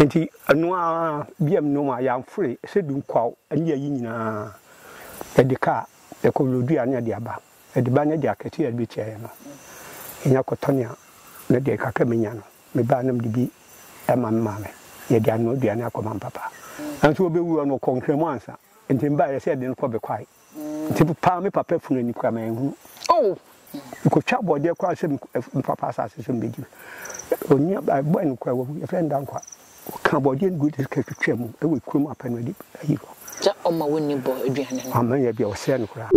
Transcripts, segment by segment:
Enti ɛno ara bia me nnomaa yɛamfore sɛ dunkwaw ne ayi nyinaa ɛde kaa ɛkɔwlodua ne ɛde aba ɛde ba ne deɛ akɛseɛ a ɛbɛtia yɛ no yɛnya kɔtɔne a na deɛ kakra menya no me baa na mede bi ɛma me maame yɛde anoa aduane akɔma me papa nanso ɔbɛwuo no ɔkɔ nkramu ansa enti me baa yɛ sɛ yɛde no kɔ bekwae Nti mepaa me papa funu ani koraa manhunu. Oh! Mekɔtwa bɔdeɛ koraa sɛ me papa asase so mbɛdi. Onua ɛbɔɛ no koraa wawu, yɛfrɛ no Dankwa. Ɔkaa bɔdeɛ no gu de kɛtwitwa mu ɛwɔ kurom apɛ no adi ayi hɔ. Sɛ ɔma wo nni bɔ aduane no. Amma yɛ bia ɔsɛɛ no koraa.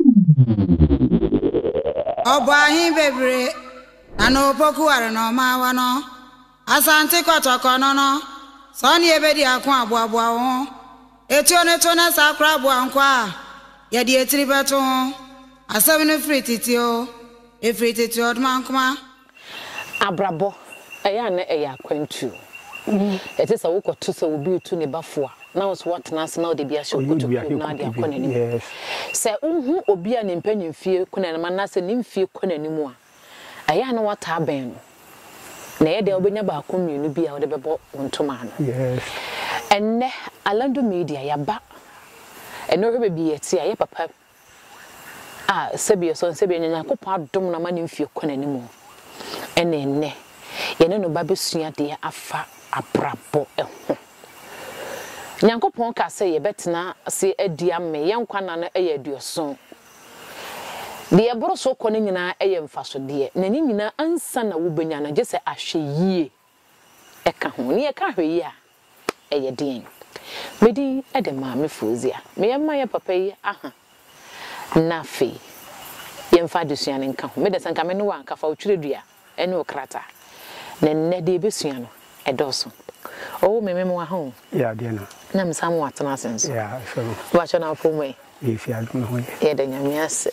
Ɔbɔ ahe bebree na na opokuware na ɔma awa no. Asante kɔtɔkɔ no no, sɛ ɔne yɛbɛdi ako aboaboa wo ho. Etuo no to na saa kora aboa nkoa a yɛde etiri bɛto ho. Asɛm no firi tete oo, efiri tete ɔdomankoma. Abrabɔ, ɛyɛ a na ɛyɛ akwantuo. Ɛte sɛ wokɔto sɛ obi retu ne ba fo a, na wo nso woatena ase na wode bi ahyɛ wo kotokuom na wode akɔ n'anim. Sɛ wohu obi a ne mpanimfie kɔ n'anim anaasɛ ne mfeɛ kɔ n'anim a, Ɛyɛ a na woataa bɛn no, na ɛyɛ dɛn a wobɛnya baako mmienu bi a wode bɛbɔ wo ntoma ano. Ɛnnɛ, Alando Media, yɛaba. Ɛnnɛ wohwɛ baabi a yɛte a, ɛyɛ papa a sɛbi ɛsɔ no sɛbi ɛnyɛ, Nyankopɔn adom no ama ne mfeɛ kɔ n'anim o, ɛna ɛnnɛ yɛne no ba bɛsua adeɛ afa abrabɔ ho. Nyankopɔn kaa sɛ yɛbɛtena ase adi amee, yɛn nkwa nna no yɛ aduɔson. Deɛ ɛboro so kɔ no nyinaa yɛ mfasodeɛ, na ne nyinaa ansa na wobɛnya no, gye sɛ ahwɛyie ka ho. Nea ɛka ahwɛyie a, ɛyɛ deɛn? Me din de Maame Fozia. Meyɛ mma yɛn papa yi aha, na afei yɛmfa adesua no nka ho. Me de sɛ anka me ne wo a, anka fa wo twerɛdua ne wo krataa. Na nnɛ deɛ yɛbɛsua no, ɛdɔɔso. Oo me memoa ho o. Yɛ adeɛ no. Na me san mo atena ase nso. Yɛ a ɛfɛ mu. Mo atwa na afom ɛ. Yɛ fi adom no ho yɛ. Yɛ da nyame ase.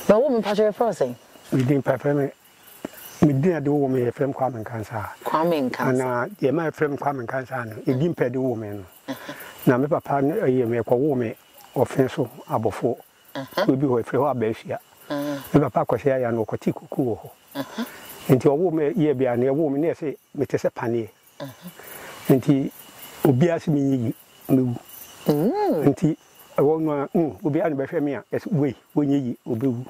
Na ɔwo me mpakyɛ yɛfrɛ wo sɛn? Me din pa yɛfrɛ me me din a de wowɔ me yɛfrɛ me Kwame Nkansah. Kwame Nkansah. Na deɛ ma yɛfrɛ me Kwame Nkansah no, ɛdin pɛ de wowɔ me no. Na me papa no ɛyɛ me ɛkɔ woo me ɔfenso abɔfoɔ. Kurow bi hɔ, wɔfrɛ hɔ Abɛɛfia. Me papa kɔhwɛɛ aya no, ɔkɔtee kuku wɔ hɔ. Enti ɔwoo me year bi a, nea ɔwoo me no yɛ sɛ mete sɛ paneɛ. Enti obiara se menyɛ yie, mɛwu. Enti ɛhɔ no ara, mm, obiara na ɔbɛhwɛ me a, yɛse wei, ɔnyɛ yie, ɔbɛwu.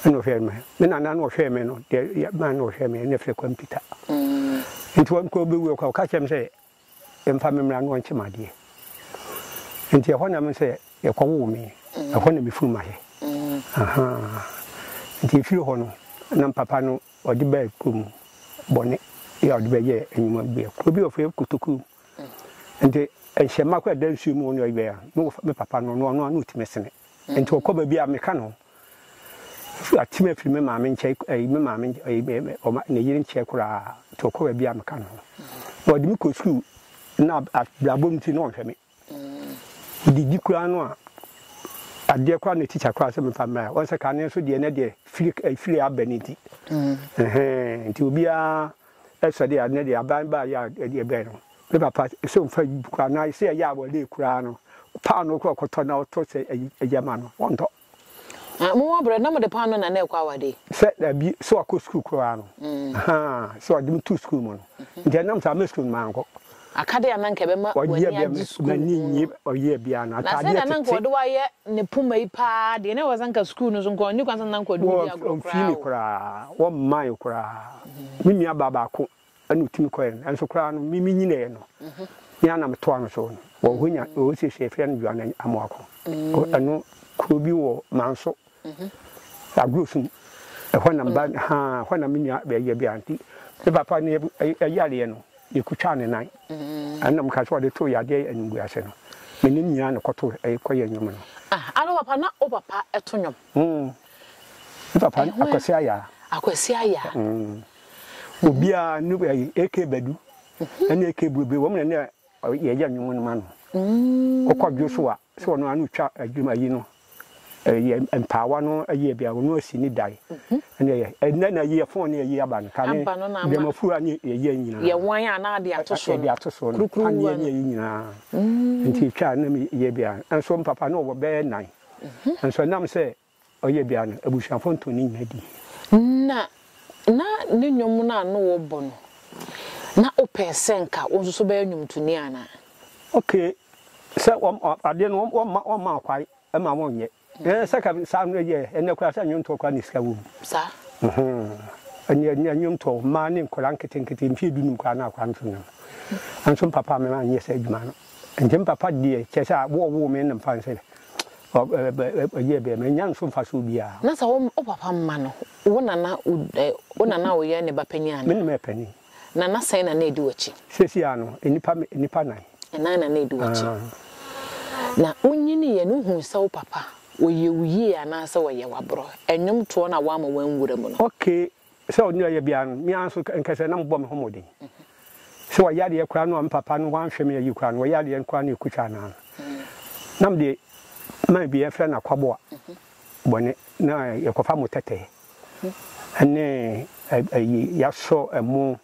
Ɛna ɔhwɛɛ me. Me nana na ɔhwɛɛ me no, deɛ yɛ, man na ɔhwɛɛ me, na yɛfrɛ Kwame Peter. Enti ɔno koraa ɔbɛwuiɛ koraa, ɔka kyerɛɛ me sɛ, Mfa me mmra na ɔnkye me adeɛ. Nti ɛhɔ na me nso yɛkɔ woo me. Ɛhɔ na me funu ma yɛ. Nti efiri hɔ no na me papa no ɔde bɛɛ kuro mu bɔne yɛ ɔde bɛɛ yɛ enyuma bi yɛ kuro bi ɔfɛ yɛ kotokuro mu. Nti nhyɛ mma kɔ ɛda nsuo mu ɔne ɔyɛ bɛɛ no me papa no ɔno ano ɔtumi sene. Nti ɔkɔ baabi a me ka no. Afei ɔte me afiri me maame nkyɛn ɛyi me maame ɛyi me me ɔma ne yere nkyɛn koraa nti ɔkɔ baabi a meka no na ɔde me kɔ sukuu na abrabɔ mu ti na ɔnhwɛ me didi koraa no a adeɛ koraa ne tikya koraa sɛ mefa mmra wɔn sɛ kane nso deɛ ne deɛ firi firi abɛ ne ti nti obiara Sɛdeɛ ɛnnɛ deɛ aban baa yɛ a deɛ bɛn no me papa sɛ ɔmfa ayi bi koraa anaa sɛ ɛyɛ a wɔle koraa no paanoo koraa ɔkɔtɔ na ɔtɔ sɛ ayi ɛyɛ ma no ɔntɔ. Na mo wɔ brɛ na mo de paanoo na na ɛkɔ awadeɛ. Sɛ dabi sɛ wakɔ sukuu koraa no ahaa sɛ ɔde me to sukuu mu no nti ɛnam saa me sukuu no mankɔ Akade a na anka ɛbɛma w'ani agye sukuu mu no. Na sɛnea na anka wɔde wo ayɛ ne poma yi pa ara deɛ, na ɛwɔ sɛ anka sukuu no nso nka ɔnni kwan sɛ na anka ɔde wo di agorɔ koraa o. Wɔmmaeɛ koraa. Me nuabaa baako na ɔtumi kɔeɛ no, nanso koraa no, me menyiniiɛ no, me ara na metoaa no so. Wɔ hɔ nya, wɔ seesei yɛfrɛ no Joana Amoako. Ɛno, kuro bi wɔ Manso. Agorɔsum, ɛhɔ na mba haa ɛhɔ na me nua bɛyɛ bia nti me papa ne ɛyareɛ no yɛku twaa ne nan ɛna mo ka sɛ ɔde too yadeɛ animguase no me ne nua na ɛkɔ to ɛkɔ yɛ nwom no. Ah ana papa na wo papa ɛto nwom. Hmm me papa akwasi ayaa. Akwasi ayaa. Hmm obiaa ne AK badu ɛne AK buebue wɔn na ne Ɔ yɛ gya nwom no ma no. Ɔ kɔ dwo so a, sɛ ɔno ara na ɔtwa adwuma ayi no, ɛ yɛ mpaawa no ayi a bia ɔno asi ne dae. Ɛnna yɛ ɛ nnɛ na yɛ fon ne ayi aba no, kane Aba no na ama. dwamafuru a ne yɛ yɛ nyinaa. Yɛ wan a na ade ato so no. Yɛde ato so no, Kurukuru paneɛ wa ne no. ayi nyinaa. Nti yɛtwa a na me yɛ bia, nso mpapa no ɔwɔ bɛyɛ nnan. Nso ɛnam sɛ Ɔyɛ bia no, abusuafo ntoo ne nyina di. Na na ne nnwom no a no wɔbɔ no, na opɛɛ sɛ nka wo nso so bɛyɛ nnwomtoni anaa? Okee sɛ wɔm adeɛ no wɔmma wɔmmaa kwae ma wɔnyɛ. Ɛɛ sɛ ka saa no yɛɛ, ɛnnɛ koraa sɛ nnwomtoɔ koraa na sika wɔ mu. Saa? Uhmm. Ɛnnɛ ɛnnɛ nnwomtoɔ, mmaa ne nkwadaa nketenkete mfeɛ dunum koraa na akwadaa no so nnwom. Nanso me papa amma me annyɛ saa adwuma no. Enti me papa deɛ, kyerɛ sɛ wo a ɔwoo me no mfa nsɛ ɔyɛɛ bɛɛ ma ɛnya nso mfasoɔ biara. Na sɛ wo papa mma no, wo na na wo na na woyɛ ne ba panin anaa? Me na meyɛ panin. Na nna sɛn na na ɛdi w'akyi? Seesei ara no, nnipa nnipa nnan. Nnan na na ɛdi w'akyi. Na wonyiniiɛ no, wohuu sɛ wo papa, ɔyɛ wo yie anaasɛ ɔyɛ wo aborɔ? Nnwomtoɔ na woama wɔn nwura mu no. Okay, Sɛ ɔno reyɛ biara no, me ara nso nka sɛ na mobɔ me ho mmɔden. Sɛ wayɛ adeɛ koraa no a me papa no wanhwɛ me ayi koraa no, wayɛ adeɛ no koraa na ɛkɔtwa anaa no, na mede man bi yɛfrɛ no akwaboa bɔne na yɛkɔfa mo tɛtɛɛ ne ayi yɛasɔ ɛmo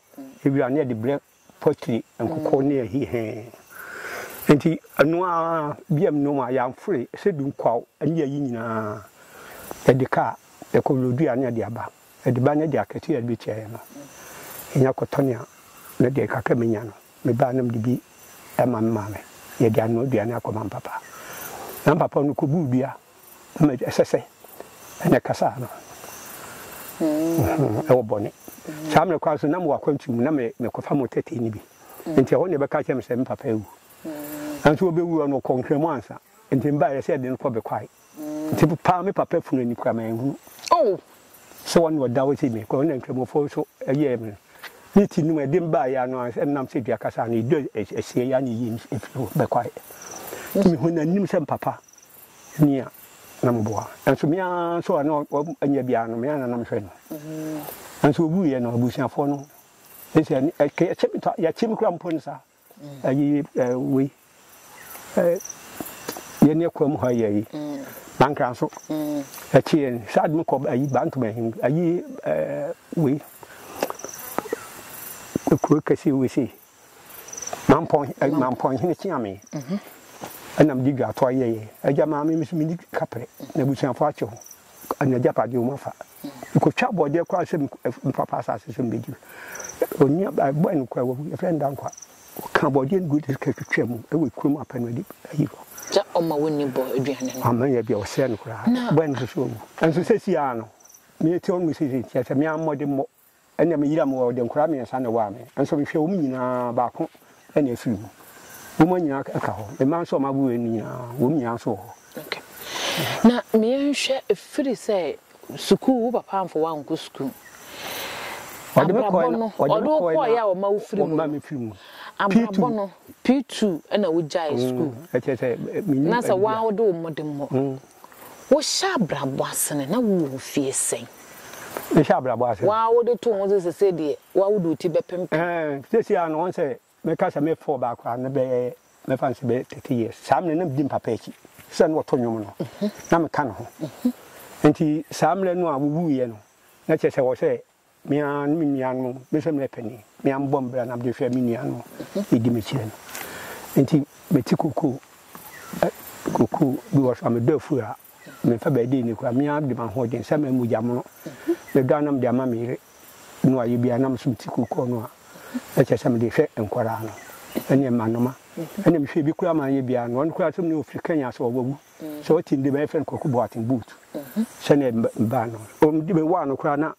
ewira na yɛde brɛ Potri nkoko ne ahi he. Nti ɔno ara biam nom a yɛamfore sɛ dunkwaw ne ayi nyinaa yɛde ka a, yɛkɔ Wlodua ne yɛde aba. Yɛde ba ne deɛ akɛseɛ a yɛde bɛtuaeɛ no, yɛnya kɔtɔne a ne deɛ kakra a menya no, me ba na mede bi ma me maame. Yɛde anoa aduane akɔma mpapa. Na mpapa no kɔbuu dua. Mma ɛsɛ sɛ ɛna ɛkasa no ɛwɔ bɔne. Saa mmerɛ kwan so na mewɔ akwantu mu na mekɔfa mo tɛtɛ no bi. Nti ɛhɔ na ɛbɛka kyerɛ me sɛ me papa awu. Nanso ɔbɛwuiɛ no ɔkɔɔ nkramu ansa. Nti mebaeɛ sɛ ɛde no kɔ bɛkwae. Nti paa me papa funu ani kura manhunu. Oh! Sɛ wɔn na ɔda hɔ sɛ me kɔ na nkramofoɔ nso ɛyɛɛ me no. Ne ti no mu ɛde mbaeɛ ano a ɛnam sɛ dua kasa no ɛdɔ ɛsiɛ yɛ a na ɛyi ɛfiri hɔ bɛkwae. Nti mehunu n'anim sɛ me papa Ni a na meboa. Nanso me ara nso a na ɔnyɛ biara no, me ara na na mehwɛ no. Nanso ɔwuiɛ no, abusuafoɔ no ne sɛ yɛkye me koraa mpo no saa. Ayi wei yɛn ne akwa mu hɔ ayɛ yi bankra nso ɛkye yɛn saa de mekɔ ayi bantoma ahi ayi wei kuro kɛseɛ wei sei Mampɔnhene kyeaa me na mede dwaatoa yɛeɛ. Agya maa me, me nso menni kaprɛ, na abusuafoɔ akyɛ ho, na agyapadeɛ wɔn afa. Mekɔtwa bɔdeɛ koraa sɛ mepapa asase so mbɛdi. Onua bɔe no koraa wawu, yɛfrɛ no Dankwa. Ɔkaa bɔdeɛ no gu de sika twitwaa mu wɔ kurom apɛ no adi ayi hɔ. Sɛ ɔma wonni bɔ aduane no. Ama yɛ bia ɔsɛe no koraa. Bɔe no nso so wawu. Nso sɛsi ara no, mete hɔ no mu sɛ sɛ ntia sɛ me ara mmɔde mmɔ. Ɛnna meyera me wɔ ɔde nkwadaa mmiɛnsa na ɛwaa me nso mehwɛ wɔn nyinaa baako na afiri mu. Wɔn nyinaa ka hɔ, mmaa nso a wɔawo wɔn no nyinaa, wɔn nyinaa nso wɔ hɔ. Na me yɛnhwɛ ɛfiri sɛ sukuu wo papa amfa wo ankɔ sukuu. Abrabɔ no ɔde wo kɔeɛ a ɔma wo firi mu no. Abrabɔ no P2 ɛna wo gyae sukuu. Na sɛ wo ara wode wo mmɔdemmɔ. Wohyɛ abrabɔ ase no, na wowɔ mfeɛ sɛn? Mehyɛ abrabɔ ase no. Wo ara wode too ho so sɛ sei deɛ, wo ara wode wo ti bɛpempem. Ɛɛ, seesei ara no, wɔn sɛ mɛka sɛ me four baako a, na bɛyɛ, mɛfa no sɛ bɛyɛ thirty years. Saa mmerɛ no, na medi mpapa akyi sɛ na ɔto nnwom no, na meka ne ho. Nti saa mmerɛ no a wɔwuiɛ no, na kyerɛ sɛ ɛwɔ sɛ Me ara ne me nuanom, me sɛ meyɛ panin, me ara mebɔ mbra na mede hwɛ me nua no ɛdi m'akyire no. Nti mete koko ɛ koko bi wɔ so a medɔ afuo a memfa bɛyɛ dee ne koraa, me ara mede m'ahoɔden sɛ mɛyɛ mogya mono medɔ a na mede ama me yere na wayɛ bi a na me nso mete koko no a na kyerɛ sɛ mede hwɛ nkwadaa no ɛne mmanoma ɛna mehwɛ bi koraa ma anyɛ biara no ɔno koraa sɛ mene ɔfiri Kenya sɛ ɔwawu Sɛ ɔte mu de bɛyɛ fɛn kwaku boaten boot sɛ ne ba no ɔm de bɛwɔ ano koraa na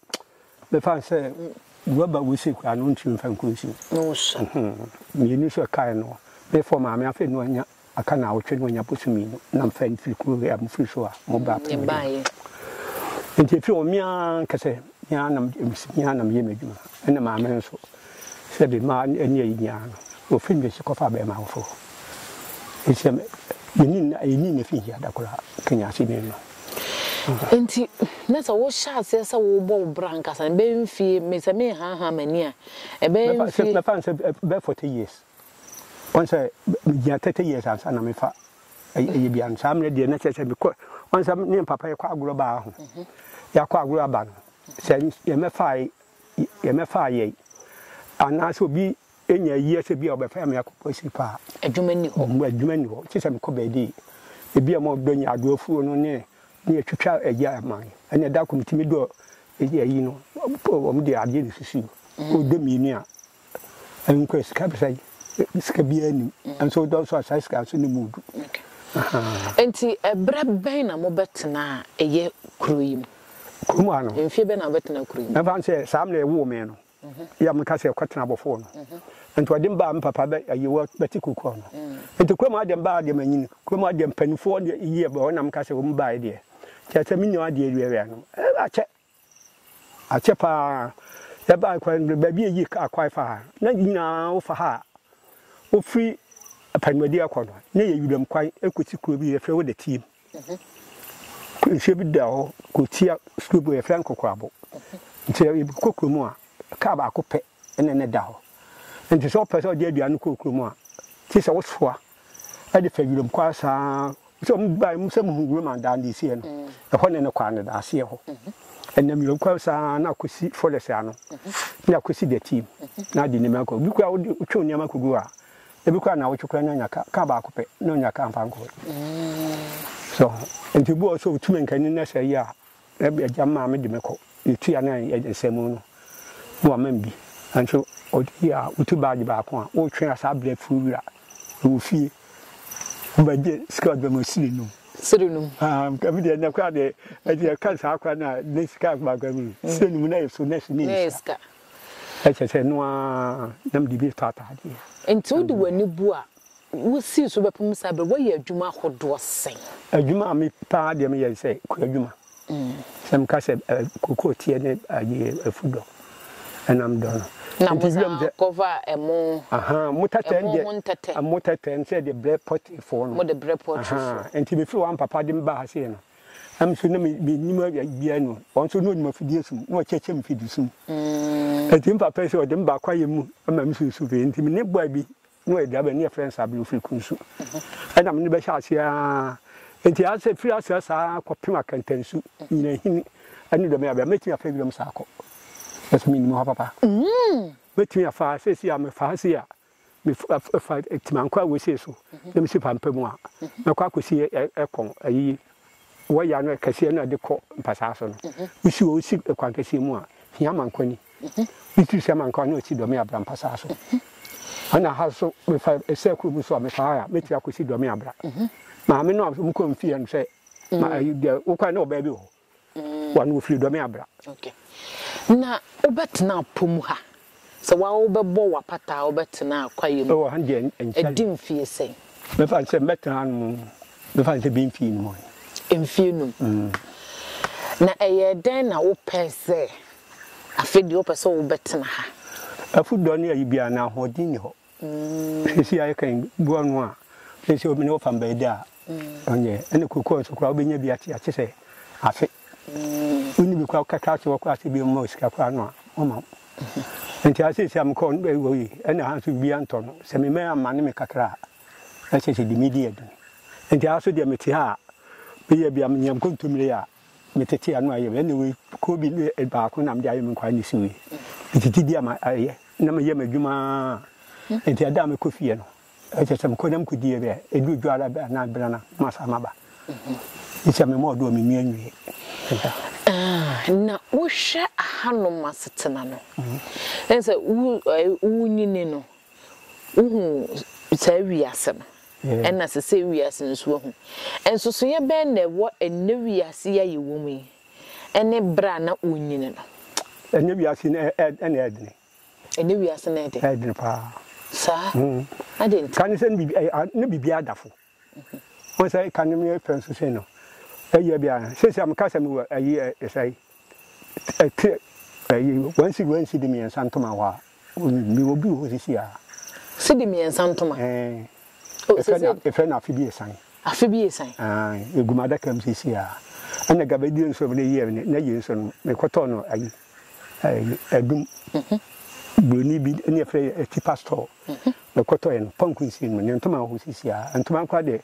bɛfa no sɛ waba wo se koraa no ɔntumi mfa nkɔ nsuo mmienu nso ɛkae no mefɔ maame afei no anya aka na awotwe no anya boso mmienu na mfa mfiri kuro a mofiri so a mo ba pɛn nti ɛfiri ɔmea nkɛsɛ Me ara na me ara na meyɛ m'adwuma, ɛna Maame nso, sɛ de mma ne ayi nyinaa no, wɔfiri me akyi kɔfa bɛrima afoforɔ. Enti sɛ yɛni nna, yɛni nna fi nhia da koraa, kanya aseni no. Enti na sɛ wohyɛ aseɛ sɛ wobɔ wo bra ankasa no, ɛbɛyɛ mfeɛ, me sɛ merehanhan m'ani a, ɛbɛyɛ mfeɛ. Mɛfa no sɛ ɛbɛyɛ forty years. Ɔn sɛ megyina thirty years ansa na mefa ɛyɛ bia no saa mmerɛ deɛ na kyerɛ sɛ mekɔ ɔn sɛ ne papa yɛkɔ agorɔ baa ho mhm. yɛakɔ agorɔ aba no sɛ yɛmɛfaa yɛmɛfaa yɛi anaasɛ obi ɛnya ayie sɛ bi a ɔbɛfɛ me akɔ pɔsi paa adwuma ni hɔ mbu adwuma ni hɔ kyɛ sɛ mekɔ baabi ebi a ma ɔdɔ nya adoɔ fuo no ne ne yɛtwitwa agya ama me ɛne ɛda kɔ metumi dɔ ɛyi no ɔm de adeɛ ne susu mhm. ɔdɔ mmienu a Ɛnkura sika bisa yi sika biara nim nso wodɔ nso a saa sika nso ne mu du. Nti ɛberɛ bɛn na mobɛtena a ɛyɛ kuro yi mu? Kuro mu ha no. Mfie bɛn na wobɛtena kuro yi mu? Ɛmfa sɛ saa mmerɛ ɛwoo me no yɛ a meka sɛ kɔtena abɔfoɔ no nti ɔde me baa me papa bɛ ayi wɔ bɛte kukuo no nti kuro mu ha deɛ mbaa deɛ manyini kuro mu ha deɛ mpanimfoɔ deɛ yie bɛ hɔ na meka sɛ wɔn baeɛ deɛ kyerɛ sɛ mennim adeɛ awiawia no ɛɛ akyɛ Akyɛ paa, yɛbaa kwan no do, baabi a yɛyii kaar kɔe faa ha no, na nyina wofa ha a ofir Apanuadi akɔ no, na ɛyɛ wuram kwan kɔsi kuro bi yɛfrɛ hɔ Dɛteem. Nsuo bi da hɔ kɔtia suro bi hɔ yɛfrɛ no Kokorabo. Nti yɛkɔ kurom a, kaar baako pɛ ɛne no da hɔ. Enti sɛ wopɛ sɛ wode aduan no kɔ kurom a, gye sɛ wosoa de fa wiram kwan saa ara. Sɛ mubae mu sɛ muhu Roman dan de esii no, ɛhɔ ne ne kwan no da, aseɛ hɔ. Ɛnam wiram kwan saa ara na akɔsi Forest ano, na akɔsi The Team, na ade nneɛma akɔ. Ebi koraa wode wotwe wo nneɛma kɔgu hɔ a, ebi koraa nnawɔtwe koraa na anya ka, ka baako pɛ na ɔnya ka mfa nkɔe. So ho? Enti ebi wɔ hɔ sɛ wotumi nka ne nnɛ saa yi a, Na agya maa me de me kɔ ne tua ne nsɛmmo no na wama me bi. Nanso ɔde yi a wotu baagye baako a wotwe a saa berɛ firi wura wɔ fie wobɛgye sika ɔde bɛma siri num. Siri num. Ah, ɛmi deɛ ɛnɛ koraa deɛ ɛde ɛka saa koraa na ne sika baako ɛmi mm. siri num na yɛ so nɛɛsi ne yɛ sika. Ɛkyɛ sɛ noa nam de bi tɔ ataadeɛ. Nti wode w'ani bu a Wosii so bɛpem saa bere. Woayɛ adwuma ahodoɔ sɛn? Adwuma a me paa deɛ meyɛ ne sɛ kuadwuma. Sɛ meka sɛ cocoa teɛ ne ayi afu dɔ ɛna me dɔ no. Na mo san kɔfa ɛmo. Ahaa mo tɛtɛ no deɛ. Ɛmo ho ntɛtɛ. Mo tɛtɛ no sɛ de brɛ pɔtirifoɔ no. Mo de brɛ pɔtirifoɔ. Ahaa nti me firi hɔ a me papa de me ba ha sei no na me nso na me me nim biara ni o. Ɔno nso na ɔnim afidie sum na ɔkyɛkyɛ me fidisum. Nti me papa yi sɛ ɔde me ba kwaeɛ mu ma me susu pii nti me ne boy bi Na ɔyɛ dua bɛn? Ne yɛfrɛ no saa bere no firi kunsu. Ɛna me ne bɛhyɛ aseɛ aa. Enti ayɛ sɛ firi aseɛ saa ara kɔpem akantansu, nyinahini, ne dɔm yɛabea. Mɛtumi afa wiram saa akɔ? Na sɛ mennim hɔ papa? Mɛtumi afa ha? Seesei a mefa ha sei a, mefa Timankɔ a wɔsii so na mesi Pampam a, mɛkɔ akɔsi Ɛkɔn ayi wɔyɛ ano kɛseɛ no a ɛde kɔ mpasaa so no, wosi wɔn si kwan kɛseɛ mu a, hia ma nkwa ni. Metiri sɛ ma nkwa na ɔsi dɔme abra mpasaa so. Ɛna ha so mefa ɛsɛ kuro mu so a mefa ha a mɛtiri akɔsi dɔme abra. Maame no a wɔn kɔ mfie no sɛ ma ayi deɛ wokwan na ɔbaa bi wɔ hɔ. Wɔn wɔfiri dɔme abra. Na wobɛtena apɔ mu ha Sɛ wo ara wobɛbɔ w'apata a wobɛtena kwaeɛ mu a, ɛdi mfeɛ sɛn? Mɛfa no sɛ mɛtena ano mu, mɛfa no sɛ ɛbɛyɛ mfeɛ num. Mfeɛ num. Na ɛyɛ dɛn na wopɛ sɛ afei deɛ wopɛ sɛ wobɛtena ha? Afudɔ ne ayi biara, na ahoɔden nni hɔ. Seesei ayɛ kan gu ɔno a ɔyɛ sɛ ɔmene ɔfam bɛyɛ dɛ a ɔnyɛ ɛne kokoa nso koraa wobɛnya bi ate ate sɛ afe wonni bi koraa wokaka ase wɔkɔ ase bi mmɔ sika koraa no a ɔma wo nti a seesei a mekɔ no bɛwɔ yi ɛne ha nso bia ntɔ no sɛ memɛ amma ne me kakra a ɛsɛ sɛ de medi adwene nti a so deɛ mete ha a bɛyɛ bia menya nkontomire a Me tete ano ayɛ me ɛna wei kuro bi baako na mede ayɛ me nkwa ne si wei metete bi ama ayɛ na meyɛ m'adwuma nti ɛda a mekɔ fie no ɛkyɛ sɛ mekɔ na mekɔdie bɛ ɛdu dwa ara bɛ na bena na masa maba ɛkyɛ me mɔɔdo a menua nwie na wohwɛ ahanom asetena no ɛne sɛ wonyini no wohu saa wiase no Ɛna sesɛɛ wiase nso ahu. Nsosoeɛ bɛn na ɛwɔ ɛnnɛ wiase yi a yɛwɔ mu yi ne berɛ a na wɔnyini no? Ɛnnɛ wiase yi na ɛyɛ dene. Ɛnnɛ wiase na ɛyɛ dene. Ɛyɛ dene paa. Saa? Adɛn nti? Kane sɛ na biribiara da fo. Wohu sɛ kane no yɛ fɛ nso sei no, ɛyɛ bi a, seesei a meka sɛ mewɔ ayi ɛsɛe. Ɛtwe ɛyi wɔn si wɔn si de mmiɛnsa ntoma hɔ a wɔn bi wɔn bi wɔ sisi a. Si de mmiɛnsa ntoma. Ɛɛ. Efɛ na efɛ na afi bi esan. Afi bi esan. Ɛɛ egum adaka mu sisi a. Ɛna gaba die nso ne yie ne yie nso no mekɔtɔ no ayi ɛyi ɛdum. Buroni bi ne efɛ yɛ ɛti pastor. Mekɔtɔ yɛ no pɔnku nsi mu ne ntoma hɔ sisi a ntoma kora de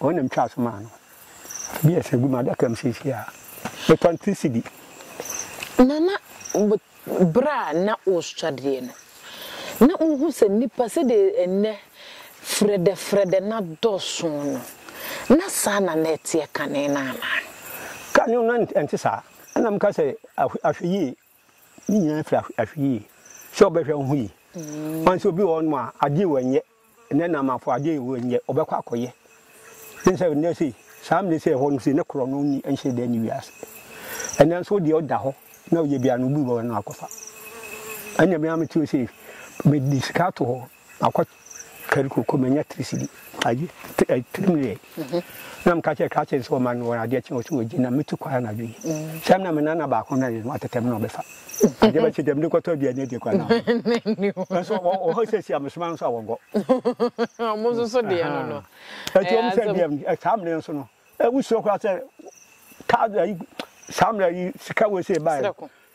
Wɔn na metwaa so maa no. Bi a ɛsɛ gu m'adaka mu seesei a, metɔn tisi bi. Nana, bere a na wosua deɛ no, na wuhu sɛ nnipa, sɛdeɛ ɛnnɛ frɛdɛfrɛdɛ no adɔɔso no, na saa na na ɛteɛ kane no anaa? Kane no na ɛnte saa. Ɛnna meka sɛ, Ahwɛyie, Ne nyinaa firi ahwɛyie sɛ ɔbɛhwɛ wo ho yie. Wɔn sɛ obi wɔ hɔnom a adeɛ wɔ nyɛ na ɛna amafo adeɛ wɔ nyɛ ɔbɛkɔ akɔyɛ. Ne sɛ nnɛ sei saa mmiri sɛ ɛhɔ no sei ne korɔ no ni nhyɛ dɛ ne wiase. Ɛnɛ nso deɛ ɔda hɔ na ɔyɛ bia no obi wɔ hɔ no akɔfa. Ɛnna mi ara me tiri sɛ mede sika ato hɔ Makɔ kari koko manya tiri sidi ayi tiri mu yɛ na meka kyerɛ ka kyerɛ sɛ ɔma no wɔn adeɛ kyɛ ɔsɛ ɔgye na metu kwan anadwo yi sɛ mena me nana baako na yɛ no atɛtɛm na ɔbɛfa adeɛ bɛkye dɛm de kɔtɔ aduane adi kwan nanso ɔhɔ sɛ si amesoma nso a wɔnkɔ ɔmo nso so deɛ no no ɛti ɔmo sɛ deɛ saa mmerɛ nso no ɛwusuo koraa sɛ kaa saa mmerɛ yi sika wɔ sɛ ɛbaeɛ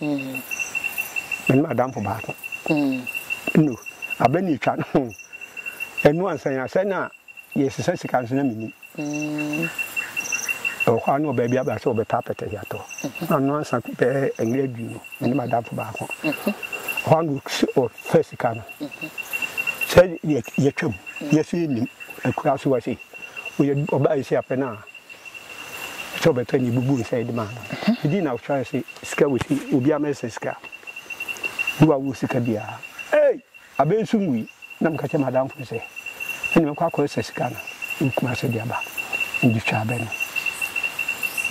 Mene m'adamfo baako. No, abɛ na etwa no. Ɛno ansa yɛn asɛn a yɛresesa sika nso na menim. Ɛwɔ hɔ ara na ɔbaa bi aba sɛ ɔbɛtɔ apɛtɛ de atɔ. Ano ansa bɛyɛ mmerɛ aduonu. Mene m'adamfo baako. Ɛhɔ ara na ɔfɛ sika no. Sɛ yɛtwam, yɛso yɛnnim. Akura so wɔ sei. Ɔbaa yi sɛ apɛ no a, Sɛ ɔbɛtɔ ne bubu nsa yi de maa no. Ɛdi na ɔtwa se sika wɔ si obi ama ɛsɛ sika. Ne wa wɔ sika bia. Ei! Abɛ nso mu yi na meka kyɛ madam fo sɛ ɛne mɛkɔ akɔ ɛsɛ sika no wɔ kuma se de aba. Ne de twa abɛ no.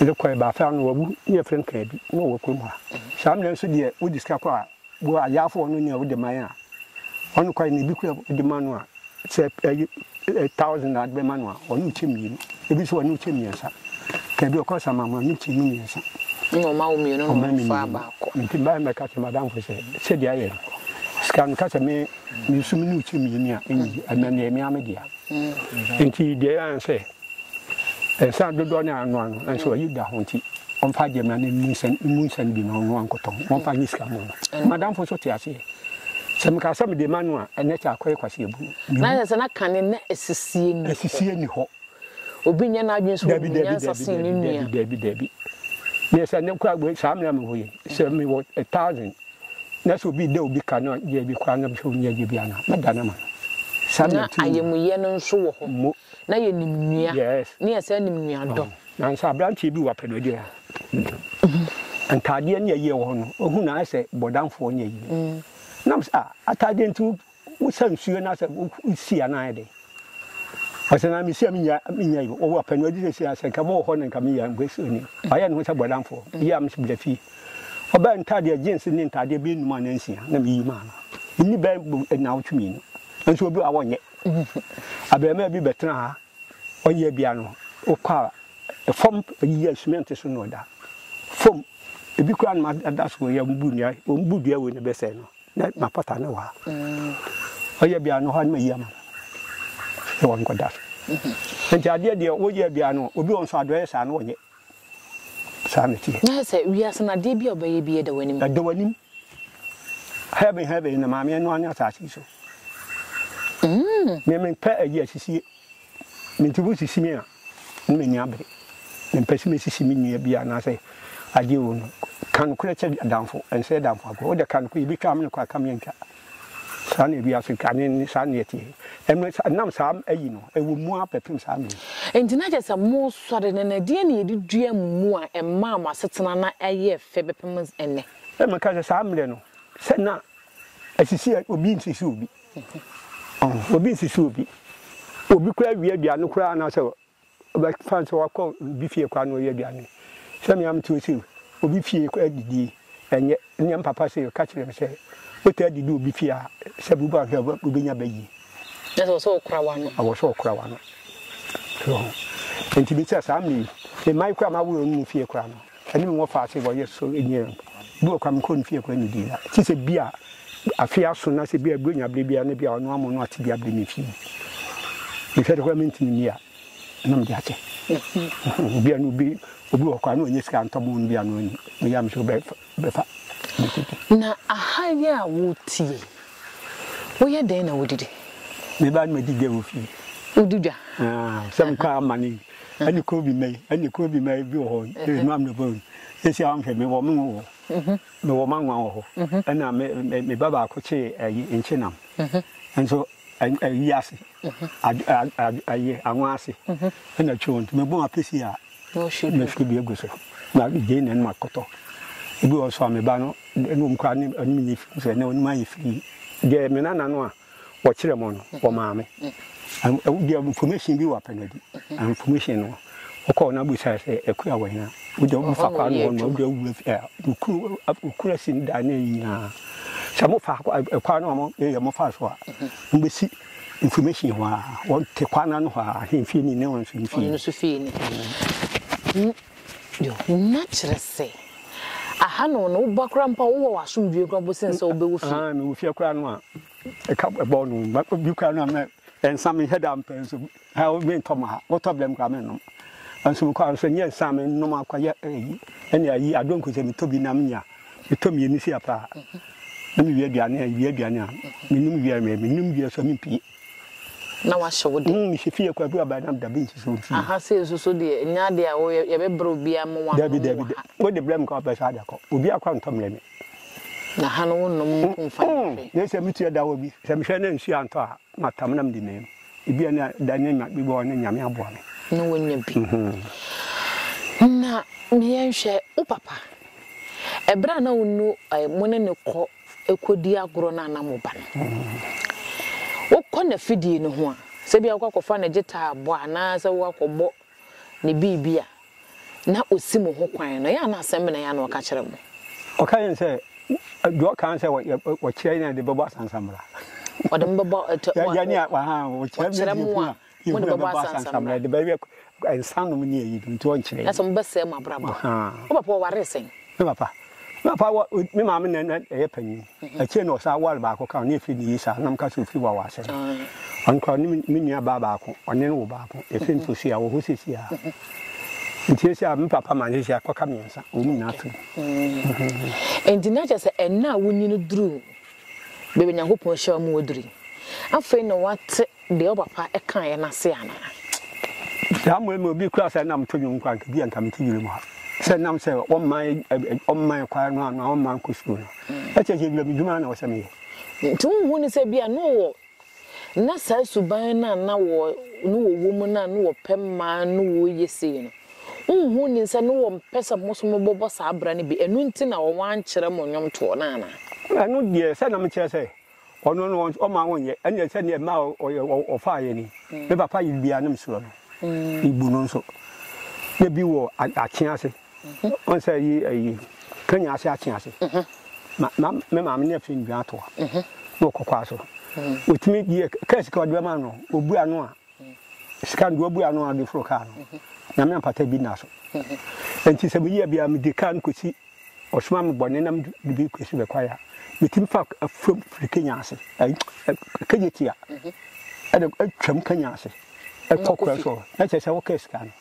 Mede kɔ ɛbaa fɛ ano wawu ne yɛ frɛ no kaa bi na ɔwɔ krom ha. Saa mena nso deɛ wo de sika kɔ a bo a yɛafa ɔno nea wode mae a, ɔno nokware no ebi koraa wode ma no a, sɛ ɛyɛ ɛ thousand na wode bɛma no a, ɔnom kyɛ mmienu, ebi nso ɔnom kyɛ mmiɛnsa. Ka bi ɔkɔ samam no ɔnom kyɛ no mmiɛnsa. Ɛna ɔma wo mmienu na Ɔma me ɔmfa mmienu. baako. Nti mɛba mɛka kyerɛ m'adamfo sɛ sɛdeɛ ayɛ no, sika no ka sɛ me me nso mene wo kyɛ mmienu a, ɛnyɛ yie, ɛnna ɛyɛ me ara me dea. Nti deɛ ɛyɛ ara ne sɛ. Esiane dodoɔ no a ɔnoa no nanso wayi da ho nti, ɔmfa agyɛmina no mmu nsa mmu nsa no bi na ɔnoa nkotɔn. Wɔmfa nyɛ sika mma no. Mm. M'adamfo nso te aseɛ. Sɛ mekaa sɛ mede ma no a, ɛnɛ kyɛ akɔyɛ kwaseɛbu. Na ayɛ sɛ na kane na asisie ni hɔ. Asisie ni hɔ. Obi nyɛ n'adwene so obi nyansa sen ne nua. Dabi, dabi, dabi. Meyɛ sɛ ne kora wei saa mmerɛ mewɔ yi, sɛ mewɔ a thousand na sɛ obi da obi ka no yɛ bi koraa na sɛ ɔnyɛ adwuma bi ana mɛda no ma no. Saa na ayamuyɛ no nso wɔ hɔ. na yɛnim nua Yes. ne yɛsan nim nuadɔ. Nanso aberanteɛ bi wɔ Apedoedeɛ ha, ntaadeɛ ne ayie a ɛwɔ hɔ no, ɔhu no a ayɛ sɛ bɔdamfoɔ ne ayie. Na mese, ah, ataadeɛ nti wo- wosa nsuo no asɛ wo- wosi anaa ayɛ dɛn? Ɔsɛ na mesi a menya menya yi, ɔwɔ Apedoedeɛ seesei a, sɛ nka mowɔ hɔ no nka meyɛ Mbasoni. Wayɛ ne ho sɛ bɔdamfoɔ. Yie a mese bra fie. Ɔbaa ntaadeɛ, jeans ne ntaadeɛ bɛyɛ nnum anaa nsia na meyi maa no. Ɛnni bɛyɛ bo- nnawɔtwe mmienu. Nanso obi wɔ hɔ a wɔnyɛ. Abarimaa bi bɛtena ha, ɔyɛ bia no wokɔ a ɛfam ayi yɛ cement so na ɔda fam ebi koraa na ada so yɛ mbu nua wɔn bu dua wei na bɛsɛe no na ma pata no wɔ ha ɔyɛ bia no hɔ no ma yi ama no wɔn kɔda so nti adeɛ deɛ woyɛ bia no obi wɔn so adɔyɛ saa no wɔnyɛ Saa na ɛteɛ. Na ayɛ sɛ wiase no adeɛ biara a wobɛyɛ biara da w'anim. Ɛda w'anim. Heaven heaven na Maame ɛnoa ne asase yi so. Mm. Me mempɛ ayi asisie. Me nti wosisi me a, ne m'ani abere. Mempɛ sɛ mesisi me nua bi anaasɛ adeɛ o no. Ka nokorɛ kyɛ adamfo, ɛnsɛe adamfo akorɔ. Wode ka nokorɛ, yɛbɛtwa amene kɔ a, ka me antwa. Saa na wiase kane ne saa na ɛteɛ. Ɛno sa nam saa ayi no, ɛwɔ mu ara bɛpem saa mmere yi. Enti na kyerɛ sɛ moresɔre no, na ɛdeɛn na yɛde duaa mmu a ɛmaa mo asetena no yɛɛ fɛ bɛpem ɛnnɛ? Ɛna meka sɛ, Saa mmerɛ no, sɛ na asisi a, obi nsisi obi. Ɔho, obi nsisi obi. Obi koraa wia aduane koraa anaasɛ Ɔbɛfa no sɛ ɔakɔ obi fie kɔ anoa aduane. Sɛ me ara mete hɔ sei o, obi fie kɔ adidi. Ɛnyɛ ɛnyɛ me papa sei o, ka kyerɛ no sɛ wotaa didi wɔ obi fie a, sɛ bo bu anhwɛ a, wobɛnya ba yie. Ɛsɛ wɔ sɛ wokora w'ano. Ɛwɔ sɛ wokora w'ano. So ɔho? Nti bisa saa mmerɛ yi, mma yi koraa, m'awoyɛ ɔno mu fie koraa no. Ɛne me wɔfa ase wɔyɛ so nyɛ o. Bi wɔ kora me kɔ ne fie kora ne di da. Ti sɛ bi a afe aso na sɛ bi a bronya bere bi a na bi a ɔno amo no ate bi a bere me fie. Me hwɛ de kora me ntini ni a na me de akyɛ. Bi a no bi obi wɔ kora na ɔnyɛ sika ntɔ mo no bi a no ni. Me ya me so bɛ bɛ fa. Na aha yi a wo te yi wo yɛ dɛn na wo didi? Me ba na me di dwa wɔ fie. Wo di dwa? Aah sɛ me kɔ amane ɛne kuro bi mɛyi ɛne kuro bi mɛyi bi wɔ hɔ ɛne maa mi na bɔ yi sisi a wɔhwɛ mi wɔ mi wɔ mhm. mi wɔ manwa wɔ hɔ mhm. ɛna mi mi ba baako kye ɛyi nkye nam mhm. nso ɛyi ase ɛyi anwa ase ɛna twɛ wɔn mi bɔ apesi a mi fi bi egu so na gye na ɛnum akɔtɔ ebi wɔ so a mi ba no ɛna wɔn kura ne ɛnum yi fi sɛ ɛna wɔn ayɛ firi deɛ mi nana no a. Wɔkyerɛ mo no wɔmaa me deɛ information bi wɔ apɛ no adi information no ɔkɔɔ na busa sɛ akua wɔ hena wode wo fa kwa no no wode wura fi okuru okura sin da ne nyinaa sɛ mo fa kwa no mo yɛ mo fa so a mo bɛsi information hɔ a wɔte kwa no ano hɔ a ahemfie ni ne wɔn nso mfie Nehum akyerɛ sɛ, aha no ne woba koraa mpo a wowɔ w'asomdwie koraa mpo sen sɛ wobɛwu fi. Ahaa mewu fie koraa no a ɛka ɛbɔ no ma obi koraa no a mɛ nsa me hɛ da mpɛ nso ha wo me ntɔ ma ha wotɔ blɛm koraa me nom nso mekɔ anso nyɛ nsa me nom akɔ yɛ ɛyi ɛne ayi adonko sɛ metɔ bi nam nya metɔ mmienu si apaa na mewie aduane a wie aduane a menom wie a menom wie so a mempie na wahyɛ wo de. Nhyɛ fie yɛ kwaku aban nam dabi nti so nti. Aha sei nso so deɛ nyɛ adeɛ a woyɛ yɛbɛbrɛ obiara mo wa nom wɔ ha. Dabi dabi da wode brɛ me ka wopɛ saa de akɔ obi akɔ antɔ mmerɛ me. Na ha no wo nom mpo mfa nyɛ hwee. Na sɛ metua da hɔ bi sɛ mehwɛ na nsuo antɔ a matam na mede meem ebi a na da ne ma bi bɔ ne nyame aboa me. Na wonya bi. Na meyɛ nhwɛ wo papa ɛberɛ a na wo nu mo ne ne kɔ kɔdi agorɔ no anaa mo ba no. Wokɔ n'afidie no ho a, sɛ ebia wokɔ akɔfa ne gyetaabɔ anaasɛ woakɔbɔ ne biribi a, na ɔsi mo ho kwan no, ɛyɛ a na asɛm bɛn na ɛyɛ a na ɔka kyerɛ mo? Ɔka yɛn sɛ, deɛ ɔka sɛ ɔkyerɛ yɛn a yɛde bɛbɔ asansamena. Ɔde mo bɛbɔ, ɔkyerɛ mo a. Mo na ɛbɛbɔ asɛ ansammerɛ de bɛyɛ nsa nom ne ayi no nti ɔnkyerɛ yɛn. Ɛsɛ mobɛsɛe mo abrabɔ. Wo papa ɔwaree sɛn? Me papa? Me papa wa me maame na na ɛyɛ panyin. Akyire na ɔsan ware baako ka ho na efiri ne yie saa na meka sɛ ofiri wawa asɛm. Ɔno koraa ɔne me nua baa baako ɔne no wo baako. Efiri nso si a wɔ hɔ sisi a. Nti esi a me papa ma sisi akɔka mmiɛnsa wɔn nyinaa firi mu. Nti na kyerɛ sɛ ɛnna a wonyin no duru baabi a Nyankopɔn hyira wɔn aduru yi, afei na wɔate deɛ wo papa kaeɛ no ase anaa? Saa mmerɛ mu obi koraa sɛ nna meto nnwom koraa nka bi a nka mete wira mu ha sɛ nam sɛ ɔmman kwae no anaa ɔmman kɔ sukuu no ɛkyɛ sɛ wira mu dwuma na ɔsɛ meyɛ. Nti wonhu no sɛ bi a na ɔwɔ Ná saa suban no a na wɔ no wɔwɔ mu no a na wɔpɛ ma no wɔ ye sei no, wonhu nnim sɛ na wɔmpɛ sɛ mo nso mobɔbɔ saa bra no bi, ɛno nti na wɔankyerɛ mo nnwomtoɔ no anaa? Ɛno deɛ, sɛ na mekyerɛ sɛ, ɔno no ɔmma wonyɛ, ɛnneɛ sɛdeɛ ɛmaa ɔfaeɛ ni, Me papa yere bi a na mesuro no, mebu no nso. Na bi wɔ akyea ase. Ɔn sɛ yi ayi Kenya ase akye ase. Ma me maame ne afiri nnwa atoa na ɔkɔ kwa so. Ɔtumi deɛ kaa sika ɔde bɛma no ɔbu ano a sika no deɛ ɔbu ano a ɔde foro kaa no nyame ampata bi nna so. Nti sɛ meyi abia mede kaa no kɔsi ɔsoma me bɔne na mede bi kɔsi bɛkwa ya metumi fa afuam firi Kenya ase Kenya tia ɛde atwam Kenya ase ɛkɔ kwa so na kyerɛ sɛ ɔkaa sika no.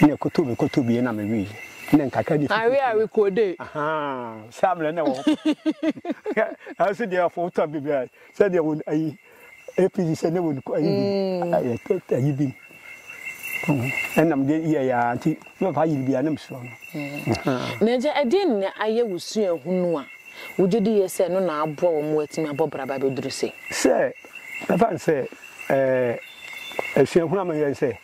Na ɛkɔtɔ bi kɔtɔ bi na mewe yi na nkakra de fi. Awe awe kode. Ahaa saa mmerɛ na ɛwɔ hɔ. Ɛnso deɛ afɔ wotɔ bi bia sɛ deɛ wɔn ayi APC sɛ ne wɔn ayi bi ayi bi. Ɛnam deɛ yɛ yɛ nti na ɔfa yiri bi a na mesuro no. Na agya ɛdeɛn na ayɛ wo suahunu a wogye di yɛ sɛ ɛno na aboa wɔn ma wɔatumi abɔ bra ba abɛduru sei? Sɛ mɛfa no sɛ ɛɛ suahunu a mayɛ ne sɛ.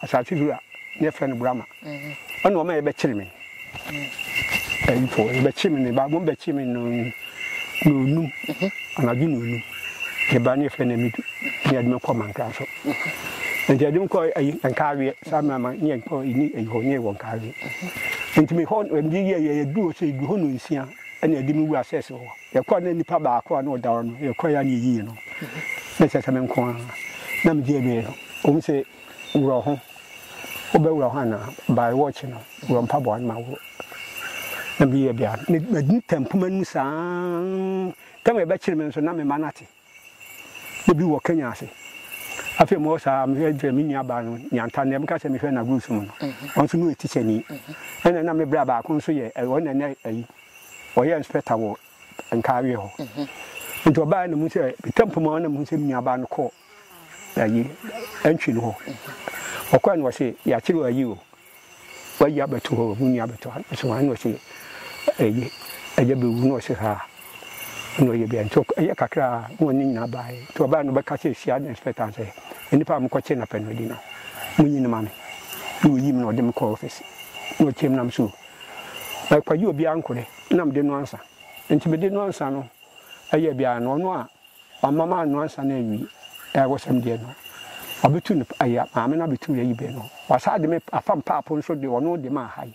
Asase wura ne yɛfrɛ no Brahma ɔne wɔn a yɛbɛkyere me ayifo yɛbɛkyere me ne ba wɔn bɛkyere me no na onum anadwo na onum ne ba ne yɛfrɛ no amidu ne yɛde me kɔ mantra so nti yɛde me kɔ ayi nkaaweɛ saa mmarima ne yɛn kɔ ɛni ayi hɔ ne yɛwɔ nkaaweɛ nti me hɔ ɛmde yɛ yɛ yɛdu hɔ sɛ yɛdu hɔ no nsia ɛna yɛde me wu asɛ sɛ hɔ yɛkɔ na nipa baako a na ɔda hɔ no yɛkɔ ya ne yɛyiyi no na ɛsɛ sɛ me nko a na megye ɛbɛɛ no wɔn sɛ Worɔ ho, wobɛworɔ ho anaa? By watch no, worɔ mpaboa no ma woro. Na meyɛ dɛ a, me, mɛdum tam poma no mu saa ara. Tam a ɛbɛkyere me nso, na me mma no ate. Na bi wɔ Kenya ase. Afei mewɔ saa, mehwɛ dɛ me nuabaa no, Nyanta, nea meka sɛ mehwɛ no Agurusu mu no, ɔno nso na ɔyɛ tikyani. Ɛnna na me bra baako nso yɛ, ɛ, ɔno na ɛnɛ ayi, ɔyɛ inspector wɔ Nkaaweɛ hɔ. Nti ɔbaeɛ na mehu sɛ, tam poma hɔ na mehu sɛ me nuabaa no kɔɔ. ayi antwi no hɔ ɔkɔɛ no ɔse yɛakyere ayi o wayi abɛto hɔ mu nua abɛto ha so ha na ɔse ɛyɛ ɛyɛ bɛwu na ɔse ha na ɔyɛ bia nti ɛyɛ kakra a na ɔne nyinaa baeɛ nti ɔbaeɛ no bɛka sɛ hyia de inspector sɛ nnipa a mokɔkye na pɛ no adi no monyi no ma me na ɔyi me na ɔde me kɔ office na ɔkyɛm nam so ɛkɔgye obiara nkɔdɛ na mede no ansa nti mede no ansa no ɛyɛ biara no ɔno a Ɔma maa no ansa na awi ɛwɔsɛm deɛ no ɔbɛtu no ɛyɛ maame no abɛtu yɛ yi bɛ no ɔsaa de me afa mpapo nso de ɔno de maa hae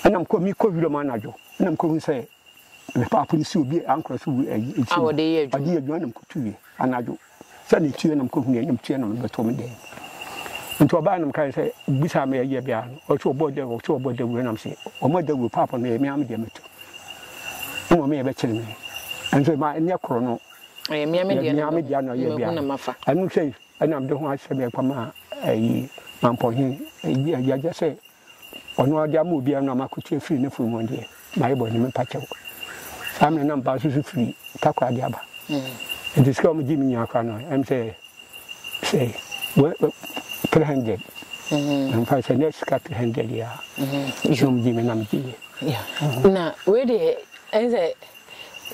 ɛna mekɔ mekɔ wiram anadwo ɛna mekɔ hu sɛ me papo no si obi ankorɔ so wu ɛyi ɛkyi no ɔde yɛ adwuma ɛna mekɔ tu yɛ anadwo sɛ ne tuɛ na mekɔ hu yɛ na metuɛ na mebɛtɔ me dɛm nti ɔbaa na mekae sɛ bisa me ɛyɛ bia no ɔtwe ɔbɔ dawuro ɔtwe ɔbɔ dawuro ɛna mese ɔmɔ dawuro papo no ɛyɛ me ame deɛ mɛtu Mmom me yɛ bɛkyere me. Nso ma ɛnyɛ koro no. Ɛyɛ mmea me deɛ na me deɛ na ɔyɛ bia. Ɛno sɛ ɛna mede ho asɛm yɛ kɔma ɛyi mampɔnhe yɛgye sɛ ɔno ade ama obi ɛno ama kotie firi ne funu mu deɛ na ayɛ bɔ ne mepa kyɛw. Saa mmerɛ na mba nso so firi takora de aba. Nti sika wɔn gye me nyinaa kora no ɛm sɛ Sɛ wɛ wɛ three hundred. Na mfa sɛ ne sika three hundred ya. Sɛ wɔn gye mi na mi gye yɛ. Na wei deɛ ɛn sɛ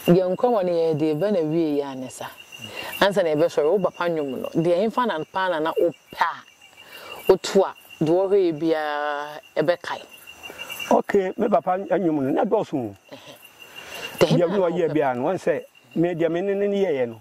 yɛn nkɔmɔ no yɛ deɛ bɛ na wie yɛ anyɛ sa. Ansa na yɛbɛ sɔre wo papa nnwom no deɛ ɛnfa na paa na na ɔpɛ a ɔtu a deɛ ɔhwɛ yɛ biara ɛbɛ kae. Ok me papa nnwom no na dɔɔso o. Deɛ ɔyɛ biara no wɔn sɛ me deɛ me ne ne yɛ yɛ no.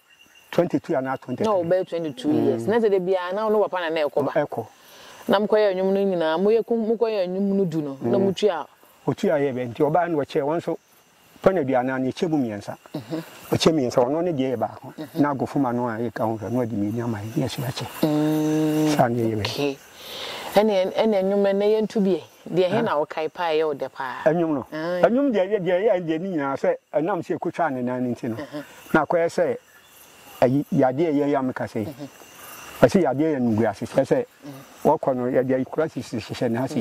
twenty two anaa twenty three. na ɔbɛyɛ twenty two years na sɛ da biara na ɔno papa na na ɛkɔ ba ɛkɔ na mokɔ yɛ nnwom no nyinaa moyɛ kum mokɔ yɛ nnwom no du no na mm. motua otua yɛ bɛ nti ɔbaa no ɔkyɛ wɔn nso pɔn aduane ano ɛkyɛ mu mmiɛnsa mhm. ɔkyɛ mmiɛnsa ɔno ne deɛ yɛ baako mhm. na agofoma no a yɛka ho hwɛ no ɔde mmienu ama yɛ yɛso yɛkyɛ mm. saa ne yɛ bɛ ɛne ɛne nnwom no ɛnɛ yɛnto bi Deɛ he na wokae paa a ɛyɛ wo dɛ paa? Nnwom no. Aane. Nnwom deɛ yɛ, deɛ ɛyɛɛ deɛ ne nyinaa sɛ ɛnam sɛ ɛkɔtwaa ne nan no nti no, na akɔyɛ sɛ ayi, yadeɛ yɛ yɛ a meka sɛ yi. Wɔse yadeɛ yɛ animguase, kyerɛ sɛ wɔkɔ no yɛde ayi kora sisi hyehyɛ ne ase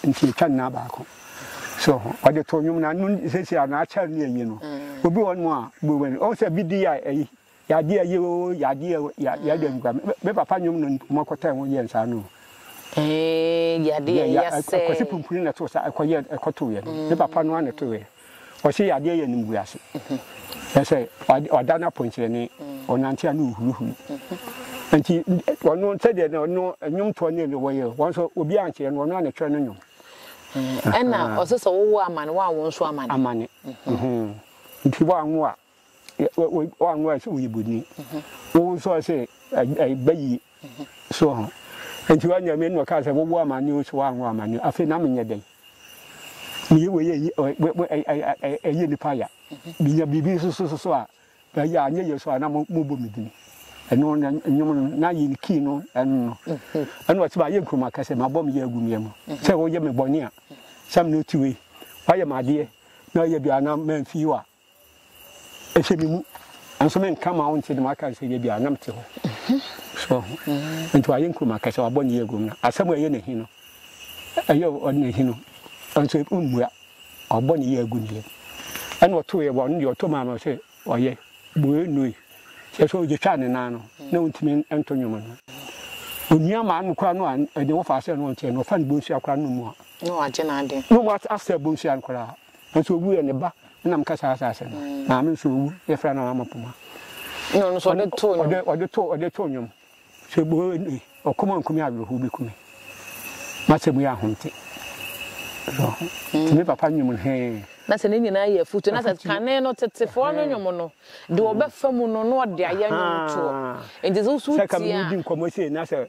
nti ɛtwa ne nan baako. So ho, ɔde too nnwom no ano seesei a na akyɛre ne ayi no. Obi wɔ hɔnom a, bowen, ɔhu sɛ biribi a ayi. Yade aye oo yade aye oo yade aye kura me me papa nwom no ɔmo akɔtaa mu yɛn saa no oo. Eeii yade aye asɛɛ. Kwasi Pumpuni na ɛtoo saa ɛkɔ yɛ ɛkɔ too yɛ no me papa no ara na ɛtoo yɛ ɔse yade aye animguase kyerɛ sɛ wada no apɔnkyerɛne ɔnante a na ɔhurihuri nti ɔno sɛdeɛ na ɔno nwomtoɔ ne ɛno wɔyɛ wɔn nso obi ankyerɛ no ɔno ara na ɛtwerɛ no nwom. Ɛna ɔse sɛ wowɔ amane woanwo nso amane. Amane nti woanwo a. wɔanware sɛ woyɛ bɔni wo nso ɔse ɛba yie so ho nti wanyame na ɔka sɛ wowo amane o so woanwo amane afei na menyɛ dɛn meyɛ wei ɛyɛ nnipa ya menya biribi nso so so a ɛyɛ anyɛ yɛ so a na mobɔ me dini ɛno na nnwom no na yɛ kii no ɛno no ɛna ɔte ma yɛ nkuruma kɛsɛ ma bɔ me yɛ agu meɛ mu sɛ woyɛ me bɔne a sɛ mene ɔtiwe wayɛ madeɛ na ɔyɛ bia na mamfii wa Ɛhyɛ me mu. Nanso menka ma wonte de maka sɛ yɛ bia na mete hɔ. So ɔho. Nti wayɛ nkurom akɛsɛ wabɔ ne yɛ agum no. Asɛm a ɛyɛ ne he no. Ɛyɛ ɔde ne he no. Nanso mmua. Wabɔ ne yɛ agu ne yɛ. Ɛna ɔto yɛ wɔn deɛ ɔto maa no sɛ ɔyɛ. Boe noi. Sɛ sɛ ɔgye twaa ne nan no na ɔntumi nto nwom no. Onua maa no koraa no a ɛde wɔfa sɛ no ɔnteɛ no ɔfa ne bonsua koraa no mu a. Na wagye n'adeɛ. Na wɔn asɛ bonsua no koraa. Nanso owu yɛ ne ba. Ɛna meka saa asase no. Maame nso owu yɛ fɛ na wama poma. Na ɔno nso ɔde too nnwom. Ɔde ɔde too ɔde too nnwom. Sɛ bo ni ɔkɔm ankum yɛ awerɛhow bi kumi. Masɛ mu yɛ ahomte. Nti me papa nnwom no hee. Na sɛ ne nyinaa yɛ afutu na sɛ kane no tetefoɔ no nnwom no deɛ ɔbɛfa mu no na ɔde ayɛ nnwom toɔ. Nti sɛ woso tie a. Sɛ ka me ne wo di nkɔmmɔ sei na sɛ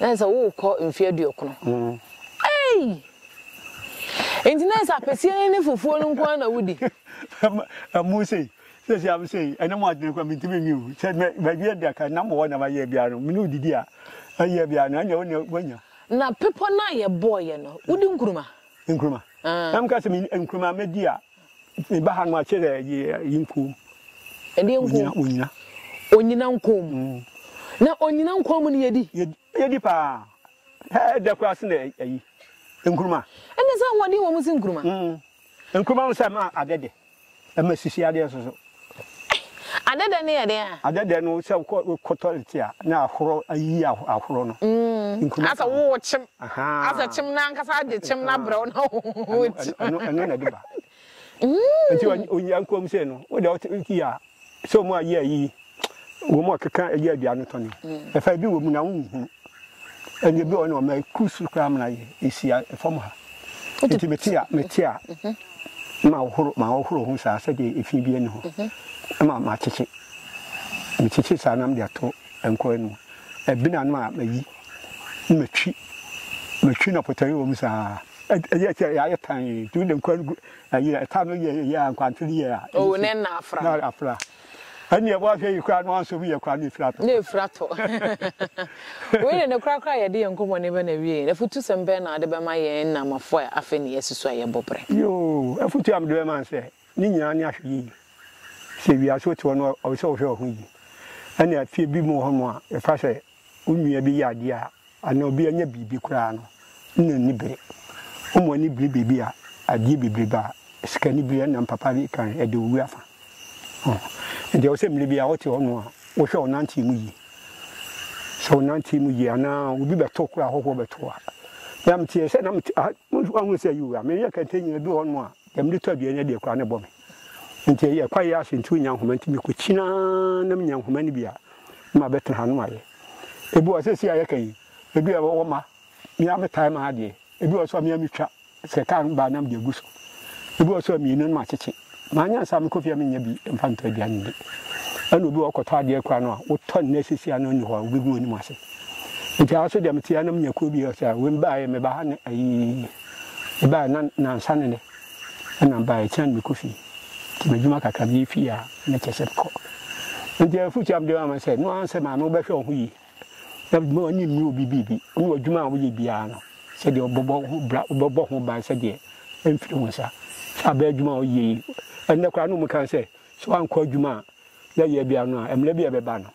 na ɛsɛ worekɔ mfe aduokron ei nti na ɛsɛ apɛsie no ne fufuo no nko ara na wodi. ɛmu sei sɛ sɛ am sei ɛne mo adwene kora mentumi nwi o sɛ mawie bia ka nam wɔ na mayɛ bia no mene wodidi a ɛyɛ bia no ɛnyɛ wone wanya na pepɔ no a yɛbɔɔyɛ no wodi nkuruma nkuruma ɛm ka sɛ nkuruma mɛdi a Meba ha no a kyerɛ yi nko. Ɛdeɛ nko? Onyina. Onyina nko mu. Na onyina nko mu no yɛdi? Yɛdi paa. Ɛdɛ koraa sen ayi, nkuruma. Ɛnna sɛ ahoɔden wɔ mu sen nkuruma? Nkuruma no sɛ ɛma adeɛ dɛ, ɛma sisi adeɛ nso so. Adɛdɛ no yɛ dɛn a? Adɛdɛ no sɛ wokɔ toilet a na ahorɔ ayi ahorɔ no. Nkruma ka ho. Asɛ wowɔ kyem. Asɛ kyem no ankasa agye kyem no abrɛ wo na woti. Ɛno na ɛde ba. Nti ɔnyankuom sei no wode wote yi a sɛ ɔmu ayɛ ayi Wɔn a wɔkeka ɛyɛ aduan no tɔ no, ɛfa ebi wɔ mu na wonhu. Ɛnna ebi wɔ hɔ no, wɔma ɛkuru soro koraa ma ɛhyia fam ha. Nti mete a, mete a, ma wohoro, ma wohoro ho saa sɛdeɛ efi bi ani hɔ. Ɛma makyekye. Mekyekye saa na mede ato nkɔɔ anom. Ɛbena no a mayi, na matwi. Matwi na pɔtɔyɛ wɔ mu saa. Ɛyɛ sɛ yɛayɛ tan, nti wode nkɔɔ no gu, ɛyɛ, ɛta no yɛ, ɛyɛ a, nkwanto no yɛ a. Oo, na ɛnna afra. Na afra. Ɛnneɛ bɔ ahwɛ yi koraa no ansɔ mu yɛ koraa na efiri atɔ. Na efiri atɔ. Wei de ne korakora yɛde yɛn nkɔmmɔne bɛ na awiei no, afutusɛm bɛn na wode bɛma yɛn Nnamafo a afei na yɛasusu a yɛbɔ bere? Yoo, afutu a mede bɛma ne sɛ, ne nyinaa ne ahwɛyiye. Sɛ wiase wote hɔ no ɔwɔ sɛ wohwɛ wo ho yiye. Ɛnna afie bi mu wɔ hɔnom a, yɛfa sɛ Wo nua bi yɛ adeɛ a, anaa obi anya biribi koraa no, na ɔnni bere. Woma w'ani bere baabi a adeɛ bebrebe a sikanibere ɛnam papa bi kan ɛde wo wu afa. Enti ɛwɔ sɛ mmerɛ biara wote hɔ nom a wohwɛ wo nanteɛ mu yie. Sɛ wo nanteɛ mu yie anaa obi bɛto wo koraa ahɔhoɔ bɛto wo a. Me a meteɛ sɛ na mete, ah, woahunu sɛ yoo, menyɛ kɛntɛn nyina ɛduru hɔ nom a, deɛ mede tɔ aduane no deɛ koraa na ɛbɔ me. Ntsi yɛkɔ ayɛ aso ntsi onnya nhoma ntsi mekokyin ara na minya nhoma no bi a na mabɛtsena ha na mayɛ. Bi wɔ hɔ sesei a yɛka yi bi a ɔwɔ ma me ara metaa ma adeɛ, bi wɔ hɔ so a me ara metwa sɛ kaa no ba a na mede agu so, bi wɔ hɔ so a mmienu no makyekye. Mannya nsa a mekɔ fie a mennya bi mfa ntɔ aduane ndi. Ɛna obi wɔ hɔ ɔkɔtɔ adeɛ koraa no a wotɔ nnɛ sesei a na ɔnni hɔ a wobɛgu w'anim ase. Ntsi ha so deɛ mete ha na menya kuo bi a ɔsɛ a wei mebaa yɛ meba ha ne ayii mebaa yɛ na nansa ne nnɛ. na bae kyɛn me Kofi nti m'adwuma kakra meyɛ fie a na kyerɛ sɛ mekɔ nti afotu a mede ama sɛ no ara sɛ maame wobɛhwɛ wo ho yie na ma w'ani mmere obi biribi ne w'adwuma a woyɛ biara no sɛdeɛ wobɛbɔ ho bra wobɛbɔ ho ban sɛdeɛ ɛmfiri wo nsa sɛ abɛyɛ adwuma a woyɛ yi ɛnnɛ koraa no mu kan sɛ sɛ woankɔ adwuma a yɛ yɛ bia no a ɛmrɛ bia ɛbɛba no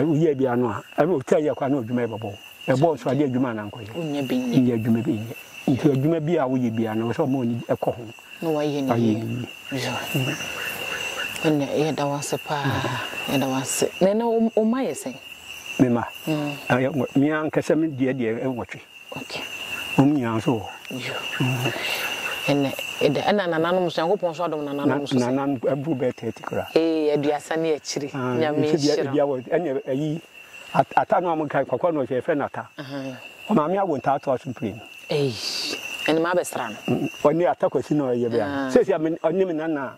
wo yɛ bia no a ɛna ɔtaa yɛ kwa na ɔdwuma yɛ bɔbɔ ɛbɔ nso adeɛ adwuma na nkɔyɛ nyɛ adwuma bi nyɛ nti adwuma bi a woyɛ bia no sɛ ɔma ɔni ɛkɔ ho na wayɛ ne yie ɛnna yɛda wase paa yɛda wase na ɛnna ɔma yɛ sɛn mema mm. me ankasa me deɛ deɛ nwɔtwe Okay. Wɔn nyinaa nso wɔ hɔ. Yo. Mm. Ɛnɛ, ɛdɛ, ɛna nananom nso, Nyankopɔn nso adom nananom nso. Na, nanan aburo bɛyɛ 30 koraa. Ee, aduasa ne akyiri. Ah, Nyame nhyira. Ebia wɔ, ɛne ayi, ata no a mo ka, kɔkɔɔ no ɔhyɛ, yɛfrɛ no ata. Uh-huh. Ɔmaame awo ntaa toa so mprenu. Ei, ɛne ma abɛsra no. Ɔne ata kwasi na ɔyɛ bɛa. Ah. Sɛsi a, ɔne me nana a.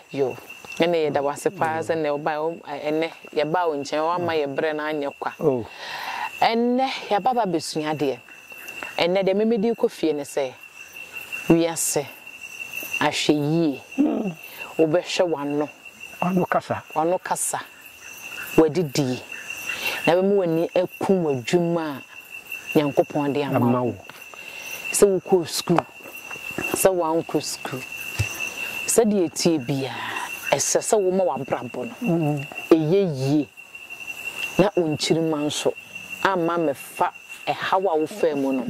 Yoh. Ɛne yɛda wo ase paa sɛ nnɛ wobae o ɛnɛ yɛbaa wo nkyɛn woamma yɛ berɛ no anyɛ kwa ɛnnɛ yɛaba aba abɛsua adeɛ ɛnnɛ deɛ memede rekɔ fie ne sɛ wiase ahwɛ yie wobɛhwɛ w'ano w'ano kasa w'ano kasa w'adidi yi, na bɛma w'ani aku w'adwuma a Nyankopɔn de ama wo, sɛ wokɔɔ sukuu, sɛ woankɔ sukuu, sɛdeɛ ɛteɛ biara, ɛsɛ sɛ woma w'abrabɔ no ɛyɛ yie, na wo nkyirimma nso amma mmɛfa ɛhaw a wofaa mu no,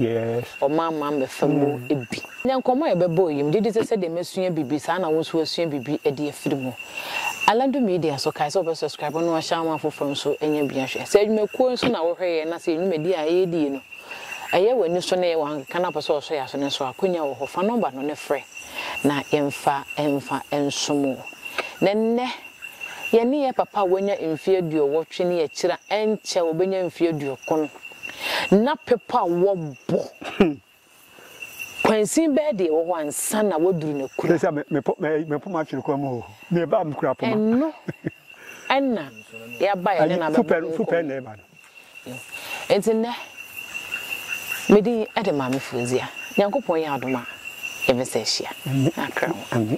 ɔman ma mmɛfa mu bi. Nnɛ nkɔmmɔ a yɛbɛbɔ yi, megye di sɛ sɛdeɛ masua biribi, saa ara na wo nso woasua biribi de afiri mu. Aladu Media nso, kae sɛ wobɛ subscribe na wahyɛ ama afoforɔ nso anya bi ahwɛ. Sɛ adwumakuo nso na wohwɛ yɛn na sɛ yɛn dwumadie a yɛredi yi no, ɛyɛ w'ani so na ɛyɛ w'ankeka na wopɛ sɛ wɔsɔ yɛn aso no nso a, akwannya wɔ hɔ. Fa nɔmba no ne frɛ na yɛmfa mfa nsom wo. Na nnɛ Yɛne yɛn papa a wanya mfe aduɔwɔtwe ne akyiri a ɛnkyɛ a obenya mfe aduokron na pepa a wɔbɔ kwansin bɛyɛ deɛ ɛwɔ hɔ ansa na waduru n'akura. Sɛ mepo mepo m'atwere kwan mu o, meba mekura poma. Ɛno na yɛaba yɛne no abɛbɔ nkɔmmɔ. Fupɛ na ɛba no. no. Enti nnɛ, me din de Maame Fauziah. Nyankopɔn yɛ adom a, yɛbɛsan ahyia. Akra ho.